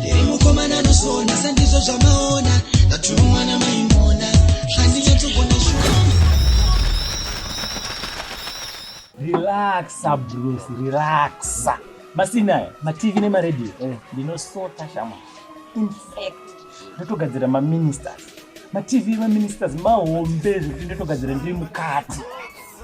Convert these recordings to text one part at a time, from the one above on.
Ndiri mukomana anosona sandizvo zvamaona ndatumwa namaimona zvandinyatogona shuwa Relaxa bros, relaxa. Masina mativi nemaredio eh. ndinosota shama. In fact, ndotogadzira maministers. Mativi maministers mahombe zvekuti ndotogadzira ndiri mukati.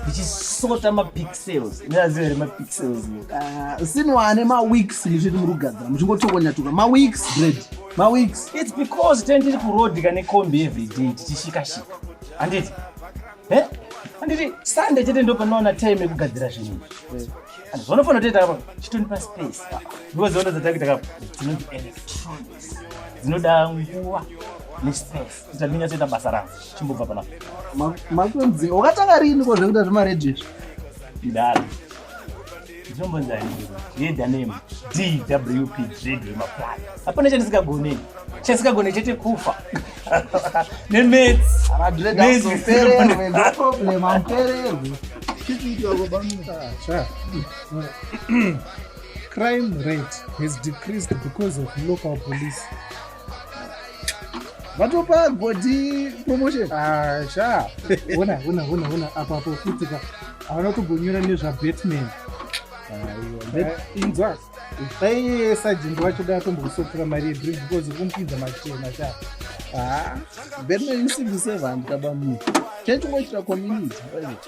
ndichisota mapixels ndaziva here mapixels ah, sinwane maweeks ndizviti muri kugadzira muchingotokonyatuka maweeks bread maweeks its because ten tiri kuroad kane combi everyday tichishikashika handiti eh? handiti sunday chete ndo panoona time yekugadzira zvinhu zvanofanira toita apa chitonipa space ndiwo ziono dzatakuita kapa dzinonzi electronics dzinoda nguva nespace ndinyasoita basa rangu chimbobva panapa makunzi wakatanga riini ko zvekuita zvemaredhi izvi ndidaro ndinombonzai yeda name dwp dread wemaplan hapana chandisingagonei chandisikagone chete kufa nemetsi crime rate has decreased because of local police vatopa godi promotion ah, sha ona ona ona ona apo apo futika havana kutogonyora nezvabatman inzwa dai sajindi wacho dai atombokusopfura mari yedrink because ukumupinza machena sha ah, batman isimbi sevanhu kaba munhu chaichongoitira community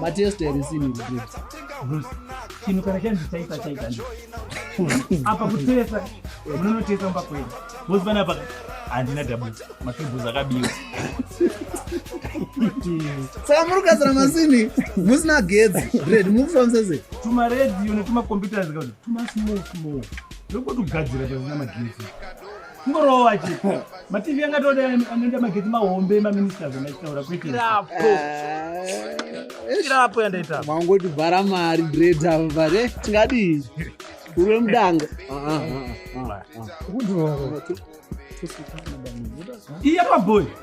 matest erisini chinhu kana chanzi chaita chaita apa kutesa munonotesa mba kwenu bosi vana paka handina dabuti makibhuzi akabiwa saka muri kugadzira masini musina gedzi red muri kufambisa sei tumaredio netumakomputers kakuti tumasmall small ndokuti kugadzira pasina magetsi Ngorowa chi. Mativi yanga toda anoenda mageti mahombe ma ministers anachitaura kwete. Irapo. Eh, Irapo yandaita. Mangoti bhara mari dread ava bare tingadii. Uri mudanga. Ah ah ah. Kundo. Iya maboy.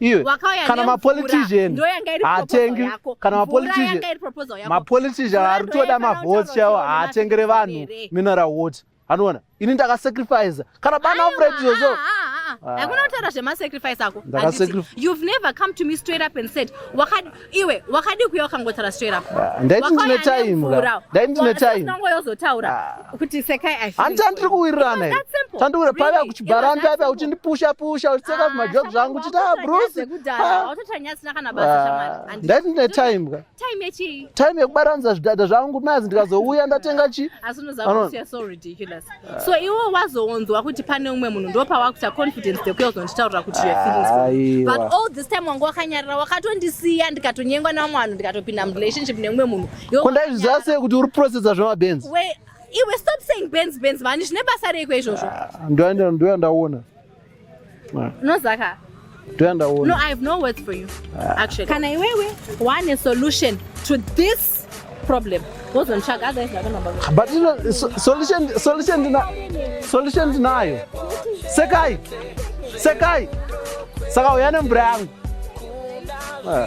iwe kana mapolitician haatengi kana mapolitician mapolitician aritoda mavhoti chaiwo haatengere vanhu mineral water anoona ini ndakasacrifice kana bana ofred izvozvo hakuna kutaura zvemasacrifice ako ndakasacrifice you've never come to me straight up and said wakadi iwe wakadii kuya wakangotaura straight up ah, ndaiti ndine time ka ndaiti ndine time ndongo yozotaura ah. kuti sekai i hanti andiri kuwirirana here tandiwira pave akuchibhara mbi api akuti ndipusha pusha uchitseka zvimajok ah, zvangu uchiti a bruce ndaiti ndine time ka time yekubaranidza zvidada zvangu mazi ndikazouya ndatenga chii asi unoziva kuti you're so ridiculous so iwo wazowonzwa kuti pane umwe munhu ndopawakuita confidence dekuya uzonditaurira kuti your feelings but all this time wanga wakanyarira wakatondisiya ndikatonyengwa nevamwe vanhu ndikatopinda murelationship neumwe munhu ko ndaizviziva sei kuti uri processa zvemabenzi iwe stop saying benz benz mani zvine basa reiko izvozvo ah, ndoya ndaona unozaka toyandaona no i have no words for you ah. actually kana iwewe wane solution to this problem wozonitsvaga otherwise ndakanamba but solution solution ndina solution ndinayo sekai sekai saka uya nemvura yangu ah.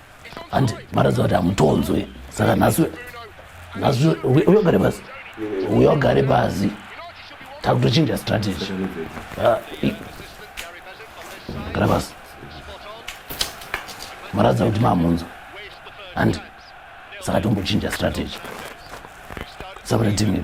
handi maradziva kuti hamutonzwe saka nhasi nhasi uyogare pasi uyogare pasi takutochinja strategy ah, gara pasi maradziva kuti mamunzwa handi saka tombochinja strategy sakuti timivi